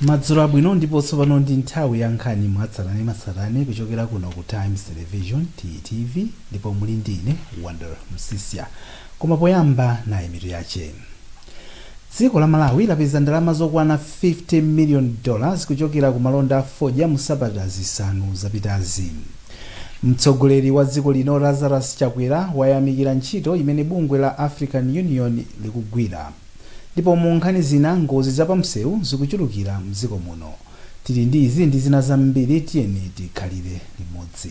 madzulo abwino ndipo tsopano ndi nthawi ya nkhani mwatsatanetsatane kuchokera kuno ku times television ttv ndipo muli ndi ine wonder msisya koma poyamba nayi mitu yache Dziko la Malawi lapeza ndalama zokwana 50 million dollars kuchokera ku malonda a fodya mu sabata zisanu zapitazi. Mtsogoleri wa dziko lino Lazarus Chakwera wayamikira ntchito imene bungwe la African Union likugwira. Ndipo mu nkhani zina ngozi za pamsewu zikuchulukira mdziko muno. Tili ndi izi ndi zina zambiri tiyeni tikhalire limodzi.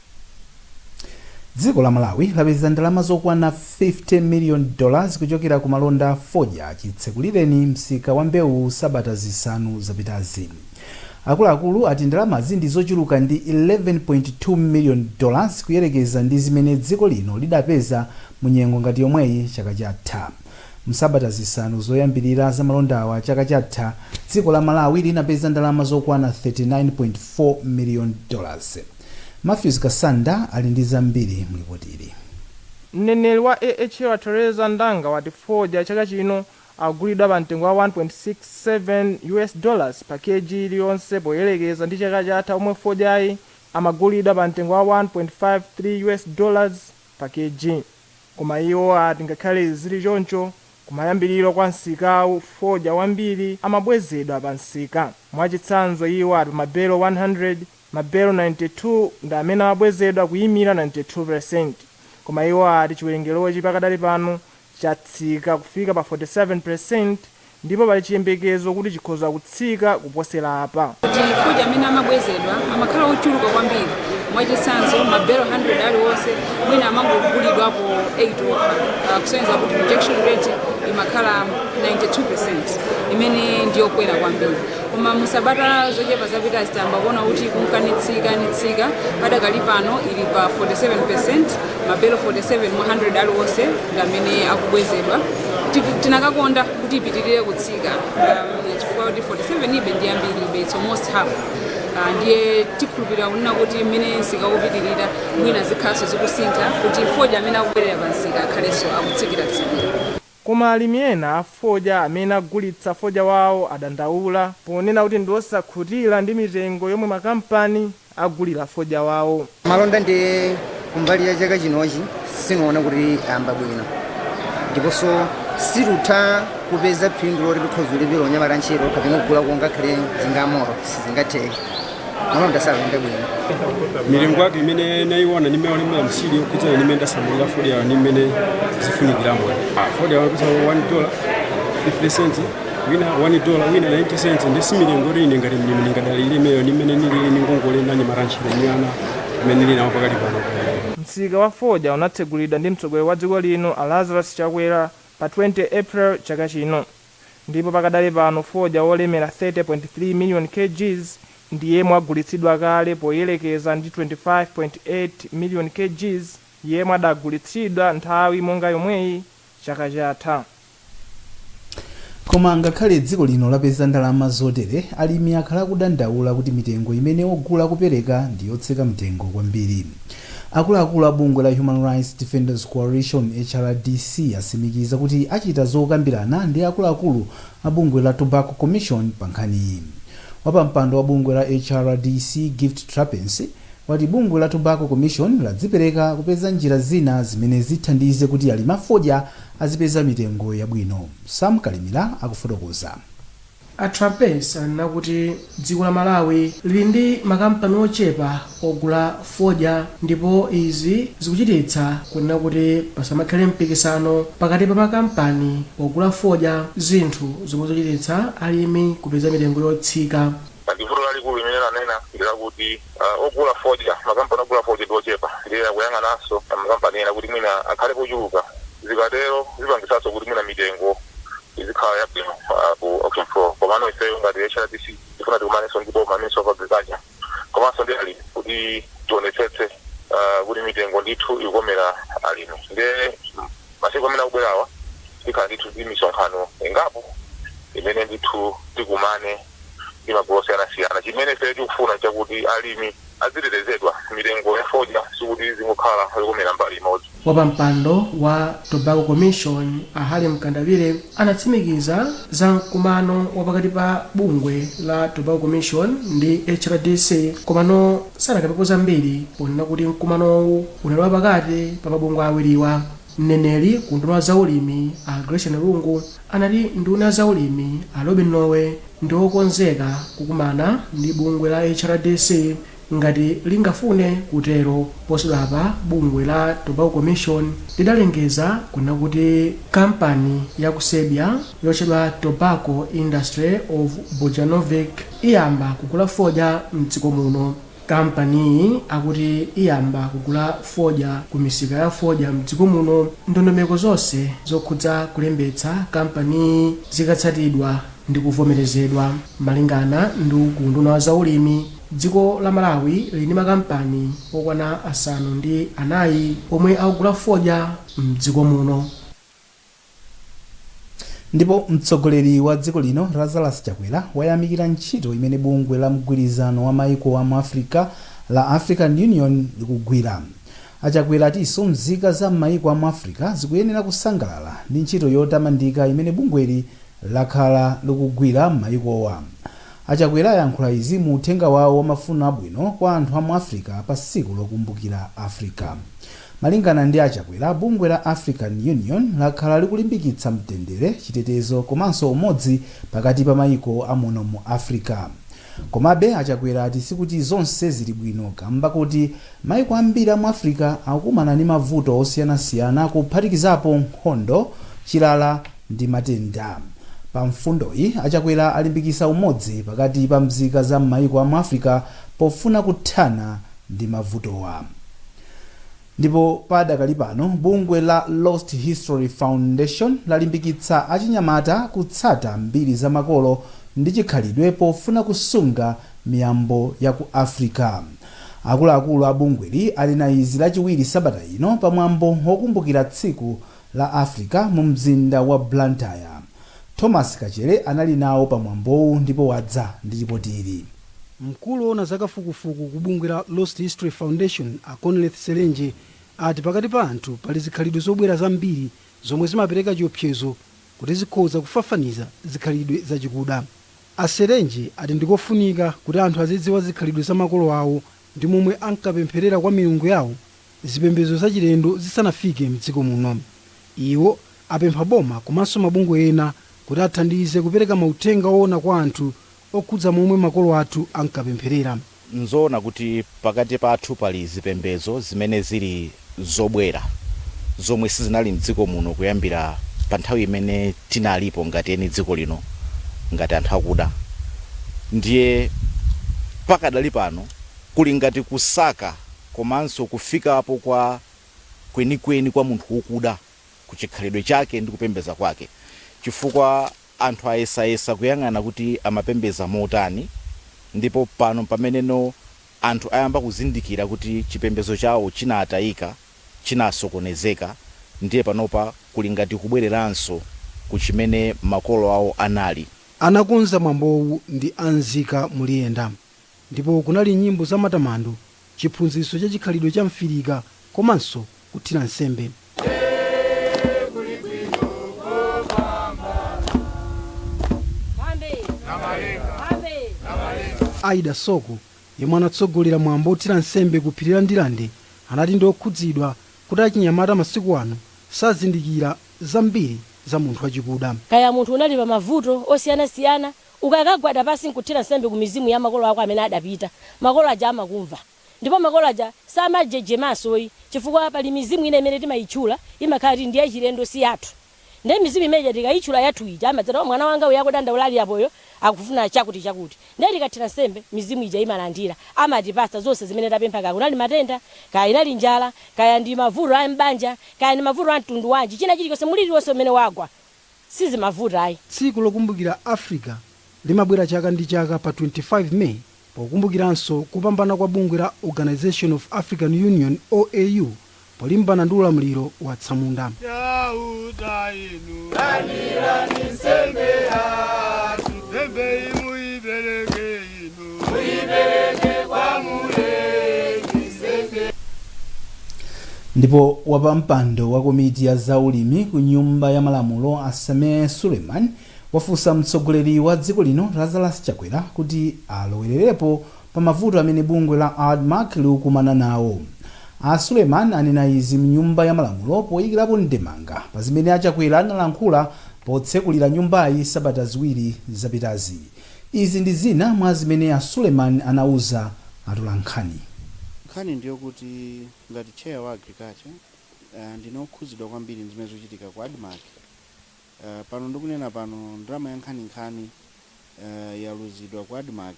Dziko la Malawi lapeza ndalama zokwana 50 million dollars kuchokera ku malonda a fodya chitsekulireni msika wa mbewuyi sabata zisanu zapitazi. Akuluakulu ati ndalamazi ndi zochuluka ndi 11.2 million dollars kuyerekeza ndi zimene dziko lino lidapeza mu nyengo ngati yomweyi chaka chatha. Msabata zisanu zoyambilira za malondawa chaka chatha, dziko la Malawi linapeza ndalama zokwana 39.4 million dollars. Mathews Kasanda ali ndi zambiri mu lipotili. Mneneri wa AHL Teresa Ndanga wati fodya chaka chino akugulidwa pa mtengo wa 1.67 US dollars pa Kg iliyonse poyelekeza ndi chaka chatha pomwe fodyayu amagulidwa pa mtengo wa 1.53 US dollars pa Kg koma iwo ati ngakhale zili choncho kumayambiliro kwa msikawu fodya wambiri amabwezedwa pa msika mwachitsanzo iwo ati pa ma belo 100 Mabelo 92 ndi amene amabwezedwa kuyimira 92 peresenti, koma iwo ati chiwerengerochi pakadali pano chatsika kufika pa 47 peresenti ndipo pali chiyembekezo kuti chikhoza kutsika kuposera apa. Kuti fodya amene amabwezedwa amakhala ochuluka kwambiri, mwachitsanzo mabelo 100 aliwonse mwina amangogulidwapo 8 okha, kusonyeza kuti rejection rate imakhala 92 peresenti imene ndiyokwera kwambiri. koma mu sabata zochepa zapitazi tayamba kuona kuti ikunka nitsikanitsika padakali pano ili pa 47 peresenti mabelo 47 mwa 100 aliwonse ndi amene akubwezedwa Tiku- tinakakonda kuti ipitirire kutsika um, chifukwa kuti 47 yobe ndi yambiribe it's almost half Ah, ndiye tikhulupirira kunena kuti mmene msika ukupitirira mwina zikhalanso zikusintha kuti fodya amene akubwerera pa msika akhalenso akutsikira tsikira Koma alimi ena a fodya amene agulitsa fodya wawo adandaula ponena kuti ndi osakhutira ndi mitengo yomwe makampani agulira fodya wawo. Malonda ndiye kumbali ya chaka chinochi sindiwona kuti ayamba bwino ndiponso situtha kupeza phindu loti tikhoza kulipira onyamata ntchito kapena kugulako ngakhale njinga ya moto, sizingatheke. malonda sakuyenda bwino milingo yake imene nayiona ndi mmene walemera nsiri yokhudzana ndi mmene ndasamalira fodya yawo ndi mmene zifunikiramo fodya yawo yapeza 1 dola 50 cents wina 1 dola wina 90 cents nde si milingo yoti ine ngati mlimi ningadalire imeneyo ndi mmene nilili ni ngongole ni anyamata antchito ni ana amene nili nawo pakali pano Msika wa fodya unatsegulidwa ndi mtsogoleri wa dziko lino a Lazarus Chakwera pa 20 April chaka chino. ndipo pakadali pano fodya wolemera 30.3 million kgs ndi yemwe wagulitsidwa kale poyerekeza ndi 25.8 million kgs yemwe adagulitsidwa nthawi monga yomweyi chaka chatha. Koma ngakhale dziko lino lapeza ndalama zotere, alimi akhala akudandaula kuti mitengo imene ogula akupereka ndi yotsika mtengo kwambiri. Akuluakulu a bungwe la Human Rights Defenders Coalition, HRDC, atsimikiza kuti achita zokambirana ndi akuluakulu a bungwe la Tobacco Commission pa nkhaniyi. Wapampando wa bungwe la HRDC, Gift Trapence, wati bungwe la Tobacco Commission ladzipereka kupeza njira zina zimene zithandize kuti alimi a fodya azipeza mitengo yabwino. Sam Kalimira akufotokoza. A Trapence anena kuti dziko la Malawi lili ndi makampani ochepa ogula fodya ndipo izi zikuchititsa kunena kuti pasamakhale mpikisano pakati pa makampani ogula fodya zinthu zomwe zikuchititsa alimi kupeza mitengo yotsika. Pali vuto lalikulu limene anena ndi lakuti Ogula fodya, Makampani ogula fodya ndi ochepa ndiye akuyang'ananso makampani ena kuti mwina akhalepo ochuluka. Zikatero zipangitsanso kuti mwina mitengo izikhala yabwino ku auction floor. Komano ifeyo ngati HRDC tifuna tikumanenso ndi boma, Ministry of Agriculture, komanso ndi alimi kuti tionetsetse kuti mitengo ndithu ikukomera alimi. Ndiye masiku amene akubwerawa tikhala ndithu ndi misonkhano ingapo imene ndithu tikumane. ndi magulu osiyanasiyana. Chimene ifeyo tikufuna n'chakuti alimi azitetezedwa. Mitengo ya fodya sikuti izingokhala yokomera mbali imodzi. Wapampando wa Tobacco Commission, a Harry Mkandawire, anatsimikiza za mkumano wa pakati pa bungwe la Tobacco Commission ndi HRDC komano sanakambepo zambiri ponena kuti mkumanowu unali wapakati pa mabungwe awiriwa. Mneneri ku unduna wa zaulimi a Gracian Lungu anati nduna ya zaulimi a Lobin Lowe ndi okonzeka kukumana ndi bungwe la HRDC ngati lingafune kutero. Posachedwapa bungwe la Tobacco Commission lidalengeza kunena kuti kampani ya ku Serbia yotchedwa Tobacco Industry of Bujanovac iyamba kugula fodya m'dziko muno. Kampaniyi akuti iyamba kugula fodya ku misika ya fodya mdziko muno ndondomeko zonse zokhudza kulembetsa kampaniyi zikatsatidwa ndi kuvomerezedwa. Malingana ndi ku unduna wa zaulimi, dziko la Malawi lili ndi makampani okwana asanu ndi anayi omwe akugula fodya mdziko muno. Ndipo mtsogoleri wa dziko lino Lazarus Chakwera wayamikira ntchito imene bungwe la mgwirizano wa maiko a mu Africa la African Union likugwira. A Chakwera atinso mzika za m'maiko a mu Africa zikuyenera kusangalala ndi ntchito yotamandika imene bungweli lakhala likugwira m'maikowa. A Chakwera ayankhula izi mu uthenga wawo wa mafuno abwino kwa anthu a mu Africa pa tsiku lokumbukira Africa. Malingana ndi a Chakwera, bungwe la African Union lakhala likulimbikitsa mtendere, chitetezo komanso umodzi pakati pa maiko a muno mu Africa. Komabe, a Chakwera ati sikuti zonse zili bwino kamba koti maiko ambiri a mu Africa akukumana ndi mavuto osiyanasiyana kuphatikizapo nkhondo, chilala ndi matenda. Pa mfundoyi, a Chakwera alimbikisa umodzi pakati pa mzika za m'maiko a mu Africa pofuna kuthana ndi mavutowa. Ndipo padakali pano bungwe la Lost History Foundation lalimbikitsa achinyamata kutsata mbiri za makolo ndi chikhalidwe pofuna kusunga miyambo ya ku Africa. Akuluakulu a bungweli anena izi lachiwiri sabata ino pamwambo wokumbukira tsiku la Africa mu mzinda wa Blantyre. Thomas Kachere anali nawo pa mwambowu ndipo wadza ndi lipoti ili. Mkulu owona za kafukufuku ku bungwe la Lost History Foundation a Conleth Selenje ati pakati pa anthu pali zikhalidwe zobwera zambiri zomwe zimapereka chiopsezo kuti zikhoza kufafaniza zikhalidwe za chikuda. A Selenje ati ndikofunika kuti anthu azidziwa zikhalidwe za makolo awo ndi momwe ankapempherera kwa milungu yawo zipembedzo zachilendo zisanafike m'dziko muno. Iwo apempha boma komanso mabungwe ena kuti athandize kupereka mauthenga oona kwa anthu okhudza momwe makolo athu ankapempherera. N'zoona kuti pakati pathu pali zipembedzo zimene zili zobwera zomwe sizinali m'dziko muno kuyambira pa nthawi imene tinalipo ngati eni dziko lino, ngati anthu akuda, ndiye pakadali pano. Kuli ngati kusaka komanso kufikapo kwa kwenikweni kwa munthu wokuda ku chikhalidwe chake ndi kupembeza kwake, chifukwa anthu ayesayesa kuyang'ana kuti amapembeza motani, ndipo pano mpameneno anthu ayamba kuzindikira kuti chipembezo chawo chinataika, chinasokonezeka, ndiye panopa kuli ngati kubwereranso ku chimene makolo awo anali. Anakonza mwambowu ndi a Nzika Muliyenda. Ndipo kunali nyimbo za matamando, chiphunzitso cha chikhalidwe cha m'Afrika komanso kuthira nsembe. Aida Soko, yemwe anatsogolera mwambo othira nsembe ku phiri la Ndirande, anati ndi okhudzidwa kuti achinyamata masiku ano sazindikira zambiri za munthu wachikuda. Kaya munthu unali pa mavuto osiyanasiyana, Ukakagwada pansi n'kuthira nsembe ku mizimu ya makolo ako amene adapita, makolo aja amakumva. Ndipo makolo aja samajejemanso ayi, chifukwa pali mizimu ina imene timayitchula, imakhala kuti ndi yachilendo, si yathu. Ndiye mizimu imene ija tikayitchula yathu ija, amadzati, oh, mwana wanga uyu akudandaula ali apayo, akufuna chakutichakuti. Ndiye tikathira nsembe, mizimu ija imalandira, amatipatsa zonse zimene tapempha kaya kunali matenda, kaya inali njala, kaya ndi mavuto a m'banja, kaya ndi mavuto a mtundu wanji, china chilichonse, mliri uliwonse umene wagwa. sizimavuta ayi. Tsiku lokumbukira Africa limabwera chaka ndi chaka pa 25 May pokumbukiranso kupambana kwa bungwe la Organisation of African Union, OAU, polimbana ndi ulamuliro wa atsamunda. Chauta inu, landirani nsembe yathu, nsembeyi muipereke. ndipo wapampando wa komiti ya zaulimi ku nyumba ya malamulo a sameh suleiman wafunsa mtsogoleri wa dziko lino lazarus chakwera kuti alowererepo pa mavuto amene bungwe la admarc likukumana nawo a suleiman anena izi mnyumba ya malamulo poyikirapo ndemanga pa zimene a chakwera analankhula potsekulira nyumbayi sabata ziwiri zapitazi Izi ndi zina mwa zimene a Suleiman anauza atolankhani. Nkhani ndiyokuti ngati chair wa Agriculture ndine okhudzidwa kwambiri ndizimene zikuchitika ku Admarc. Pano ndikunena pano ndalama yankhaninkhani yaluzidwa ku Admarc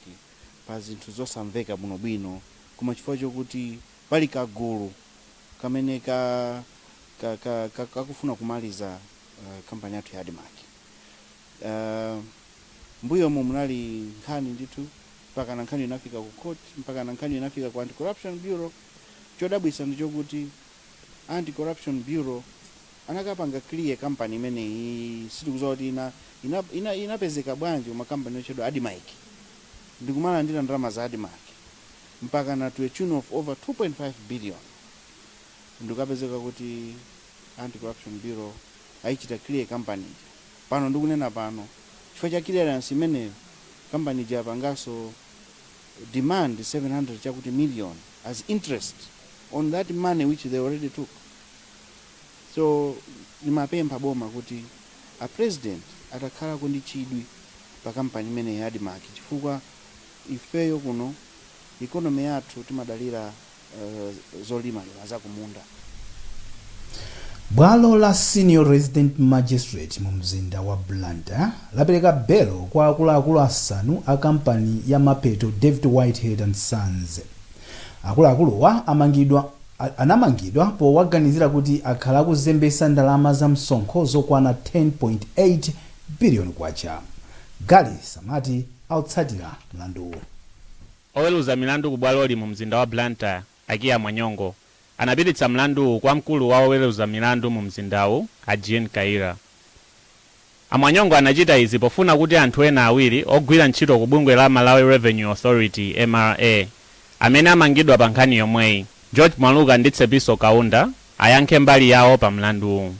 pazinthu zosamveka bwinobwino koma chifukwa chokuti pali kagulu kamene kakufuna kumaliza company yathu ya Admarc. M'mbuyomu munali nkhani ndithu mpakana nkhani inafika ku court, mpakana nkhani inafika ku Anti-Corruption Bureau. Chodabwitsa ndi chokuti Anti-Corruption Bureau anakapanga clear company imeneyi, sitikudziwa kuti inapezeka bwanji koma company yotchedwa Admarc ndi kumalandira ndalama za Admarc mpakana to a tune of over 2.5 billion ndi kukapezeka kuti. anti corruption bureau ayichita clear company ija pano ndikunena pano chifukwa cha clearance imeneyo company ija yapangaso demand 700 chakuti million as interest on that money which they already took so ndimapempha boma kuti a president atakhalako ndi chidwi pa company imeneyi ya admarc chifukwa ifeyo kuno economy yathu timadalira eh, zolimalima za kumunda bwalo la senior resident magistrate mu mzinda wa blantyre lapereka belo kwa akuluakulu asanu a kampani ya mapeto david whitehead and sons akuluakuluwa anamangidwa powaganizira kuti akhala akuzembesa ndalama za msonkho zokwana 10.8 biliyoni kwacha gali samati watsatira mlanduwu Oweluza milandu ku bwaloli mu mzinda wa Blantyre, a Kiah Mwanyongo, anapititsa mlanduwu kwa mkulu wa oweluza milandu mu mzindawu, a Jean Kaira. A Mwanyongo anachita izi pofuna kuti anthu ena awiri ogwira ntchito ku bungwe la Malawi Revenue Authority, mra, amene amangidwa pa nkhani yomweyi, George Mwaluka ndi Tsepiso Kaunda, ayankhe mbali yawo pa mlanduwu.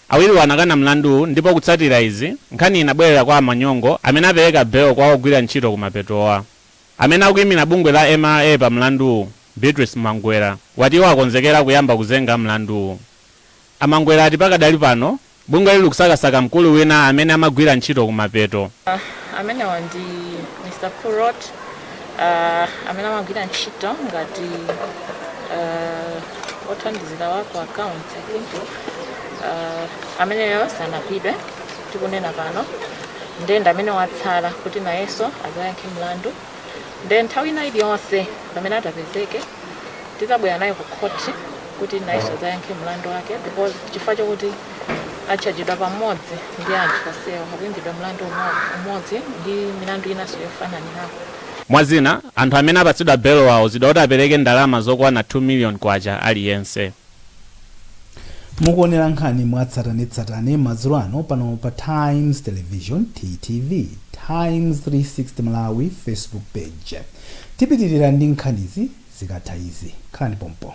Awiriwa anakana mlanduwu ndipo kutsatira izi, nkhaniyi inabwerera kwa a Mwanyongo amene apereka belo kwa ogwira ntchito kumapetowa. Amene akuimira bungwe la mra pa mlanduwu, Beatrice Mangwera, wati iwo akonzekera kuyamba kuzenga mlanduwu. A Mangwera ati pakadali pano, bungweli likusakasaka mkulu wina amene amagwira ntchito kumapeto. Amenewa ndi Mr Purott uh, amene amagwira ntchito ngati uh, othandizira wa ku account i think uh, ameneyo sanapezedwe tikunena pano nde ndi amene watsala kuti nayenso adzayankhe mlandu nde nthawi ina iliyonse pamene atapezeke tidzabwera naye ku khoti kuti nayenso adzayankhe mlandu wake because chifukwa chokuti atchajidwa pamodzi ndi anthu onsewa akuimbidwa mlandu umodzi ndi milandu inanso yofananirako. Mwa zina, anthu amene apatsidwa belowa auzidwa kuti apereke ndalama zokwana K2 miliyoni aliyense. Mukuonera nkhani mwa tsatanetsatane madzulo ano pano pa Times Television, TTV, Times 360 Malawi Facebook Page. Tipitilira ndi nkhanizi zikatha izi. Khalani pompo.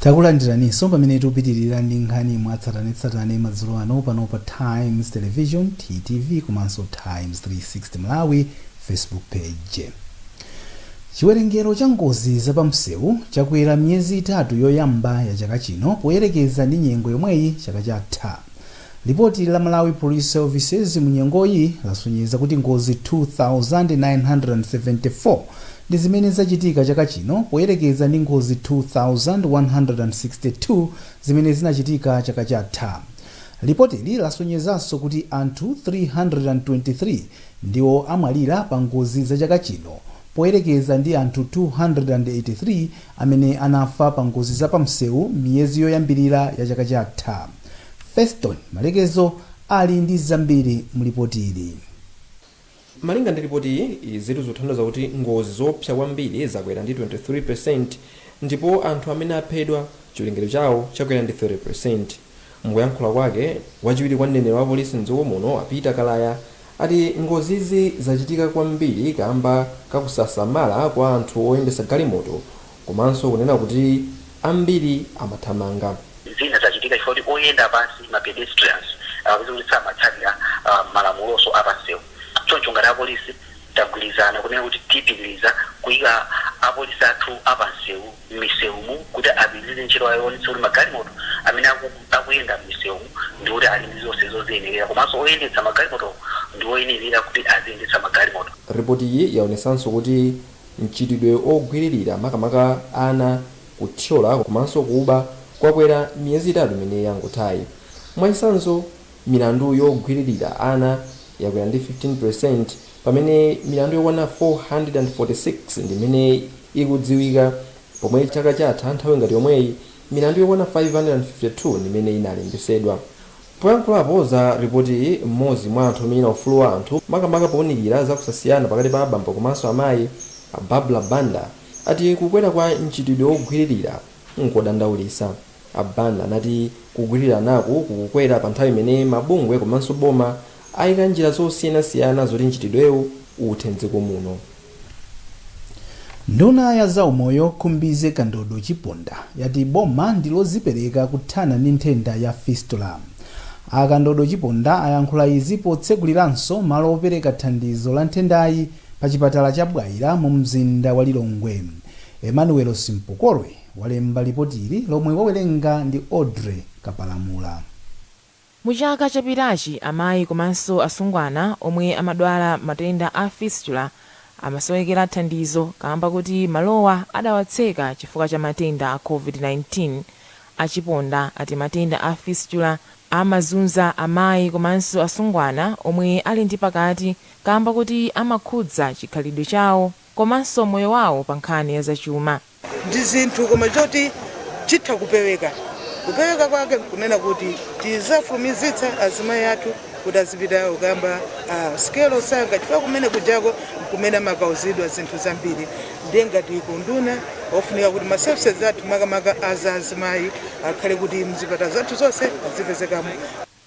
takulandiraninso pamene tikupitirira ndi nkhani mwatsatanetsatane madzulo ano pano pa times television ttv komanso times 360 malawi facebook page chiwerengero cha ngozi zapamsewu chakwera miyezi itatu yoyamba ya chaka chino poyerekeza ndi nyengo yomweyi chaka chatha Lipoti la Malawi Police Services munyengoyi lasonyeza kuti ngozi 2,974 ndi zimene zachitika chaka chino poyerekeza ndi ngozi 2,162 zimene zinachitika chaka chatha. Lipotili lasonyezanso kuti anthu 323 ndiwo amwalira pa ngozi za chaka chino poyerekeza ndi anthu 283 amene anafa pa ngozi za pamsewu m'miyezi yoyambirira ya chaka chatha. Feston Malekezo ali ndi zambiri mu lipotili. Malinga ndi lipotiyi, izitu zikuthandauza kuti ngozi zoopsa kwambiri zakwera ndi 23% ndipo anthu amene aphedwa chiwerengero chawo chakwera ndi 30%. Mukuyankhula kwake, wachiwiri kwa mneneri wa apolisi m'dziko muno a Peter Kalaya ati ngozizi zachitika kwambiri kaamba kakusasamala kwa anthu oyendetsa galimoto Komanso kunena kuti ambiri amathamanga. Zina zachitika chifukwa kuti oyenda pansi, ma pedestrians, akapeza kuti samatsatira malamulonso a pansewu. Choncho ngati apolisi tagwirizana kunena kuti tipitiriza kuika apolisi athu a pansewu m'misewumu kuti apitirize ntchito yawo yoonetsetsa kuti magalimoto amene akuyenda m'misewumu ndi kuti ali ndi zonse zoziyenerera komanso oyendetsa magalimoto ndi oyenerera kuti aziyendetsa magalimoto. Ripotiyi yaonetsanso kuti Mchitidwe ogwiririra makamaka ana, kuthyola komanso kuba kwakwera miyezi itatu imene yangothayi. Mwachisanzo milandu yogwiririra ana yakwera ndi 15% pamene milandu yokwana 446 ndi imene ikudziwika pomwe chaka chatha nthawi ngati yomweyi milandu yokwana 552 ndi imene inalembesedwa. Poyankhulapo za ripotiyi, m'modzi mwa anthu omenyera ufulu wa anthu makamaka pounikira za kusasiyana pakati pa abambo komanso amayi, a Barbara Banda, ati kukwera kwa mchitidwe wogwiririra nkodandaulitsa. A Banda anati kugwiriranaku kukukwera pa nthawi imene mabungwe komanso boma ayika njira zosiyanasiyana zoti mchitidwewu uthe m'dziko muno. Nduna ya zaumoyo Khumbize Kandodo Chiponda yati boma ndi lozipereka kuthana ndi nthenda ya Fistula. A Kandodo Chiponda ayankhula izi potseguliranso malo opereka thandizo la nthendayi pa chipatala cha Bwaila mu mzinda wa Lilongwe. Emmanuel Simpokolwe walemba lipotili lomwe wawerenga ndi Audrey Kapalamula. Mu chaka chapitachi, amayi komanso asungwana omwe amadwala matenda a fistula amasowekera thandizo kaamba kuti malowa adawatseka chifukwa cha matenda a Covid-19. A Chiponda ati matenda a fistula amazunza amayi komanso asungwana omwe ali ndi pakati kaamba kuti amakhudza chikhalidwe chawo komanso moyo wawo pankhani ya zachuma. ndi zinthu koma choti chitha kupeweka kupeweka kwake kunena kuti tizafulumizitsa azimayi athu kuti azipita kukayamba sikelo msanga chifukwa kumene kujako kumene amakauzidwa zinthu zambiri ndiye ngati kunduna ofunika kuti ma services athu makamaka aza azimayi akhale kuti mzipata zathu zonse azipezekamo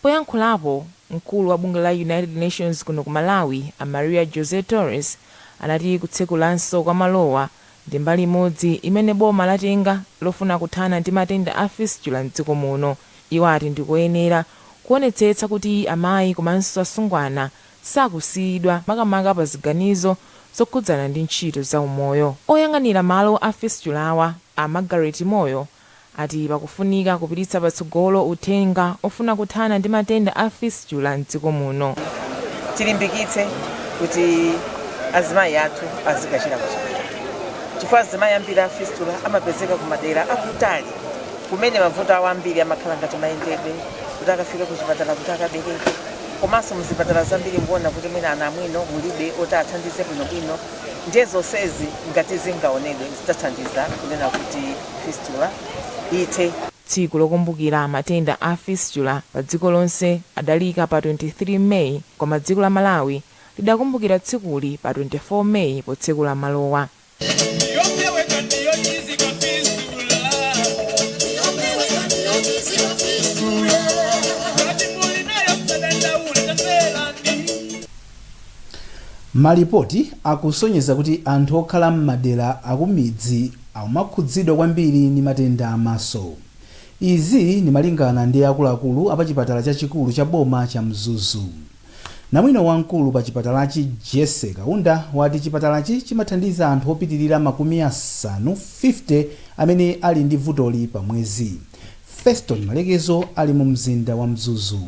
Poyankhulapo, mkulu wa bungwe la United Nations kuno ku Malawi, a Maria José Torres, anati kutsekulanso kwa malowa ndi mbali imodzi imene boma latenga lofuna kuthana ndi matenda a Fistula m'dziko muno. Iwo ati ndi koyenera kuonetsetsa kuti amayi komanso asungwana sakusiyidwa makamaka pa ziganizo zokhudzana ndi ntchito za umoyo. Oyang'anira malo a Fistulawa, a Margaret Moyo, ati pakufunika kupititsa patsogolo uthenga ofuna kuthana ndi matenda a Fistula m'dziko muno. Tilimbikitse kuti azimayi athu azikachira kuchipatala chifukwa azimayi ambiri a Fistula amapezeka ku madera akutali kumene mavuto awo ambiri amakhala ngati mayendedwe kuti akafike kuzipatala kuti akabereke komanso muzipatala zambiri mukuona kuti mwina anamwino mulibe oti athandize bwinobwino ndiye zonsezi ngati zingaonedwe zidzathandiza kunena kuti fistula ithe. Tsiku lokumbukira matenda a fistula pa dziko lonse adaliika pa 23 May koma dziko la Malawi lidakumbukira tsikuli pa 24 May potsekula malowa. Yopeweka ndi yochizika fistula. Yopeweka ndi yochizika fistula. Ngati muli nayo musadandaule, tamverani. Malipoti akusonyeza kuti anthu okhala m'madera akumidzi akumakhudzidwa kwambiri ndi matenda a maso. Izi ndi malingana ndi akuluakulu a pa chipatala chachikulu cha boma cha Mzuzu. Namwino wamkulu pa chipatalachi Jessy Kaunda wati chipatalachi chimathandiza anthu opitilira makumi asanu 50 amene ali ndi vutoli pa mwezi. Feston Malekezo ali mu mzinda wa Mzuzu.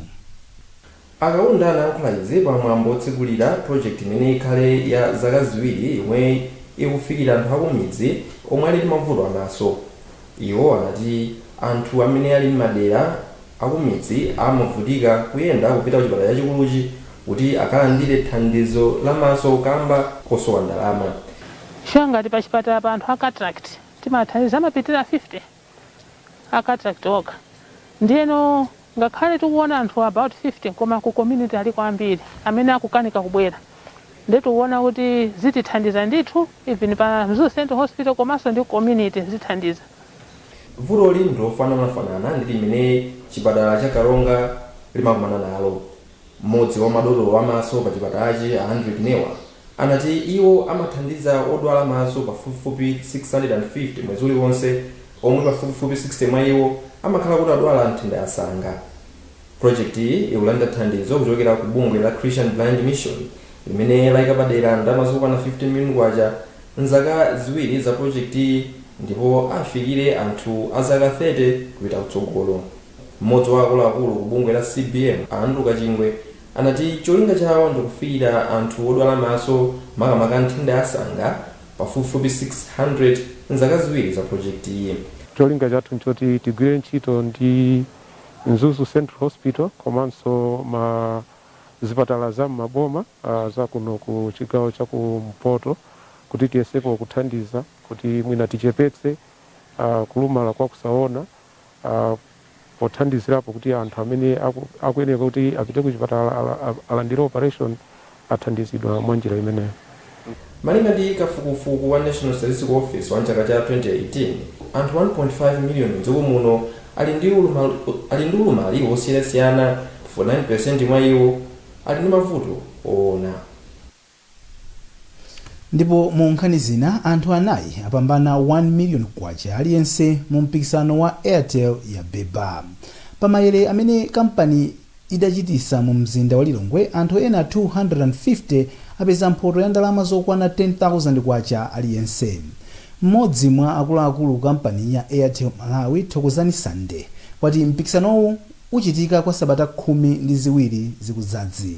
A Kaunda anayankhula izi pa mwambo otsekulira project imene ikhale ya zaka ziwiri yomwe ikufikira anthu akumidzi omwe ali ndi mavuto a maso. Iwo anati anthu amene ali m'madera akumidzi amavutika kuyenda kupita kuchipatala chachikuluchi kuti akalandire thandizo la maso kamba kosowa ndalama. Chifukwa ngati pachipatala pano anthu a cataract timathandiza amapitirira 50. a cataract okha ndiyeno ngakhale tikuona anthu about 50 koma ku community aliko ambiri amene akukanika kubwera nde tikuona kuti zitithandiza ndithu even pa Mzuzu Central Hospital komanso ndi ku community zithandiza. Vutoli ndi lofananafanana ndi limene chipatala cha Karonga limakumana nalo. Mmodzi wa madotolo a maso pachipatalachi, a Hendrick Newah, anati iwo amathandiza odwala maso pafupifupi 650 mwezi uliwonse, omwe pafupifupi 60 mwa iwo amakhala kuti adwala nthenda ya sanga. Projekitiyi ikulandira thandizo kuchokera ku bungwe la Christian Blind Mission, limene laika padera ndalama zokwana K15 million m'zaka ziwiri za projekitiyi ndipo afikire anthu a zaka 30 kupita kutsogolo. M'modzi wa akuluakulu ku bungwe la CBM, a Andrew Kachingwe, anati cholinga chawo ndi kufikira anthu odwala maso, makamaka nthenda ya sanga, pafupifupi 600 m'zaka ziwiri za projekitiyi. Cholinga chathu n'choti tigwire ntchito ndi Mzuzu Central Hospital komanso ma zipatala za m'maboma a za kuno ku chigawo cha kumpoto kuti tiyesepo kuthandiza kuti mwina tichepetse kulumala kwa kusaona. Pothandizirapo kuti anthu amene akuyeneka kuti apite kuchipatala alandire operation athandizidwa mwa njira imeneyo. Malinga ndi kafukufuku wa National Statistical Office wa m'chaka cha 2018, anthu 1.5 miliyoni m'dziko muno ali ndi ulumali wosiyanasiyana 49% mwa iwo ali ndi mavuto oona. Ndipo mu nkhani zina, anthu anayi apambana K1 million aliyense mu mpikisano wa Airtel Yabeba. Pa mayere amene kampani idachitisa mu mzinda wa Lilongwe, anthu ena 250 apeza mphoto ya ndalama zokwana K10,000 aliyense. Mmodzi mwa akuluakulu ku kampani ya Airtel Malawi, Thokozani Sande, wati mpikisanowu uchitika kwa sabata khumi ndi ziwiri zikudzazi.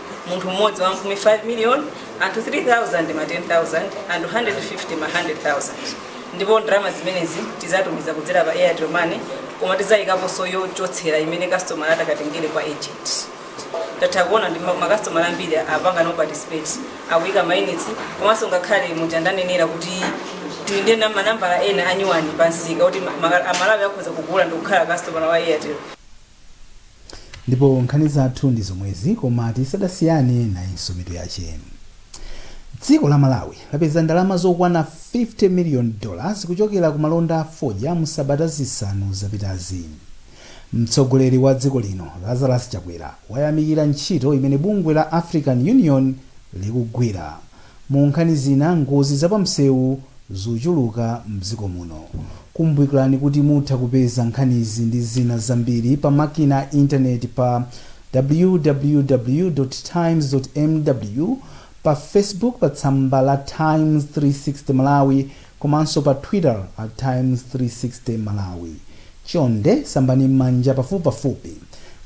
munthu mmodzi wamphumi 5 million anthu 3000 ma 10000 anthu 150 ma 100000 ndipo ndalama zimenezi tizatumiza kudzera pa airtel money koma tizayikaponso yochotsera imene customer atakatengere kwa agent tatha kuona ndi ma- makasitomala ambiri apangano participate akuyika mayunitsi komanso ngakhale muja ndanenera kuti tili ndi na- manambala ena anyuwani pansika kuti ma- ma- amalawi akhoza kugula ndikukhala customer wa airtel Ndipo nkhani zathu ndi zomwezi koma tisadasiyane nayinso mitu yache. Dziko la Malawi lapeza ndalama zokwana 50 million dollars kuchokera ku malonda a fodya mu sabata zisanu zapitazi. Mtsogoleri wa dziko lino Lazarus Chakwera wayamikira ntchito imene bungwe la African Union likugwira. Mu nkhani zina, ngozi za pa msewu zachuluka mdziko muno. Kumbukirani kuti mutha kupeza nkhanizi ndi zina zambiri pa makina a intaneti pa www. Times. mw, pa Facebook pa tsamba la Times 360 Malawi komanso pa Twitter at Times 360 Malawi. Chonde sambani m'manja pafupipafupi,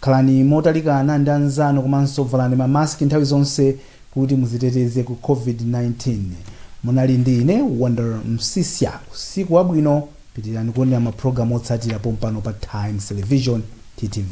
khalani motalikana ndi anzanu komanso valani ma mask nthawi zonse kuti muziteteze ku covid 19 munali ndi ine wonder msiska usiku wabwino pitirani kuonera mapulogalamu otsatira pompano pa times television ttv.